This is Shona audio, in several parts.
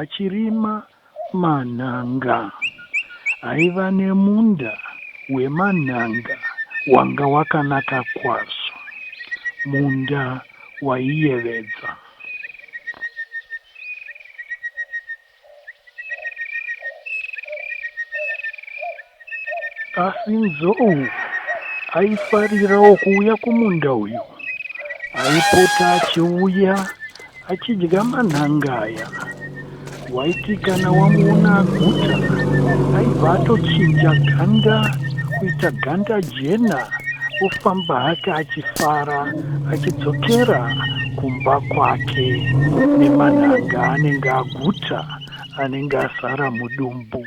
achirima manhanga. Aiva nemunda wemanhanga wanga wakanaka kwazvo. Munda waiyevedza. Asi Nzou aifarirawo kuuya kumunda uyu. Aipota achiuya achidya manhanga aya. Waiti kana wamuona aguta, aibva atochinja ganda kuita ganda jena ofamba hake achifara achidzokera kumba kwake nemanhanga anenge aguta anenge azara mudumbu.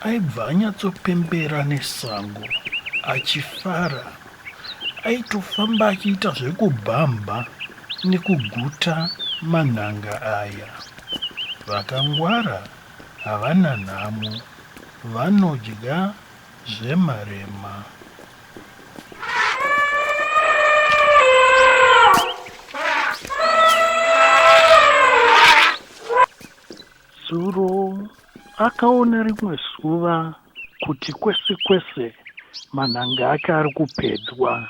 Aibva anyatsopembera nesango achifara. Aitofamba achiita zvekubhamha nekuguta manhanga aya. Vakangwara havana nhamo, vanodya zvemarema. Zuro Akaona rimwe zuva kuti kwese kwese manhanga ake ari kupedzwa.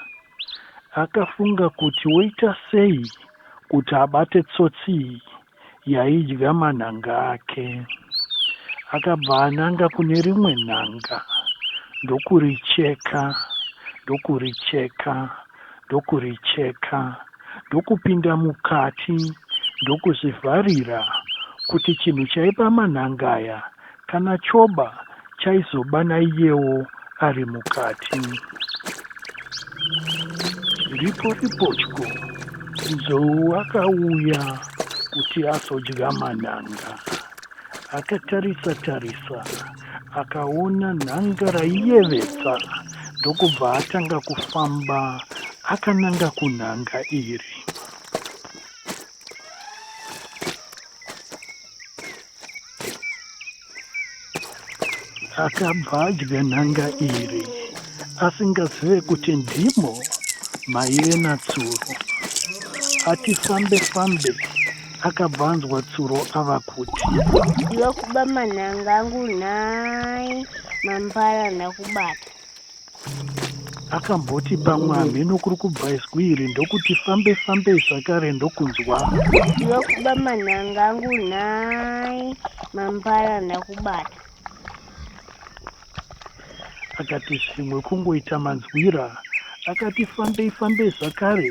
Akafunga kuti woita sei kuti abate tsotsi iyi yaidya manhanga ake. Akabva ananga kune rimwe nhanga ndokuricheka ndokuricheka ndokuricheka ndokupinda mukati ndokuzvivharira kuti chinhu chaiba manhanga aya kana choba chaizoba naiyewo ari mukati. Chiripo ripotyo Nzou akauya kuti azodya manhanga. Akatarisa tarisa akaona nhanga raiyevedza ndokubva atanga kufamba akananga kunhanga iri. Akabva adya nhanga iri asingazive kuti ndimo maive natsuro. Ati fambe fambe akabva anzwa tsuro ava kuti ndokuba manhanga angu nhai mambara ndakubata akamboti pamwe hamheno kuri kubva izwi iri ndokuti fambe fambe zvakare ndokunzwa ndokuba manhanga angu nhai mambara ndakubata akati zvimwe kungoita manzwira akati fambei fambei zvakare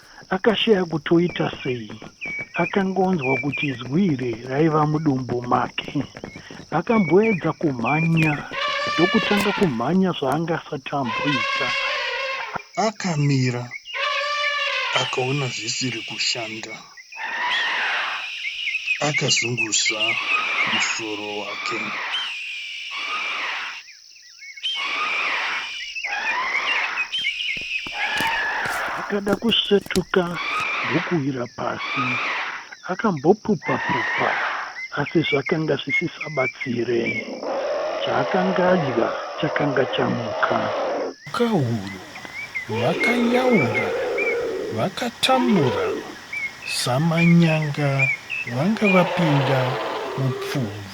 Akashaya kuti oita sei. Akanga onzwa kuti zwi iri raiva mudumbu make. Akamboedza kumhanya ndokutanga kumhanya zvaanga asati amboita. Akamira akaona zvisiri kushanda. Akazunguza musoro wake. Akada kusvetuka ndokuwira pasi. Akambopupa-pupa asi zvakanga zvisisabatsire. Chaakanga adya chakanga chamuka. Mhukahuru vakanyaura vakatambura samanyanga vanga vapinda mupfumvu.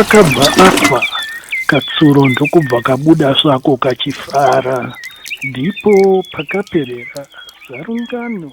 akabva afa katsuro ndokubva kabuda svako kachifara ndipo pakaperera zarungano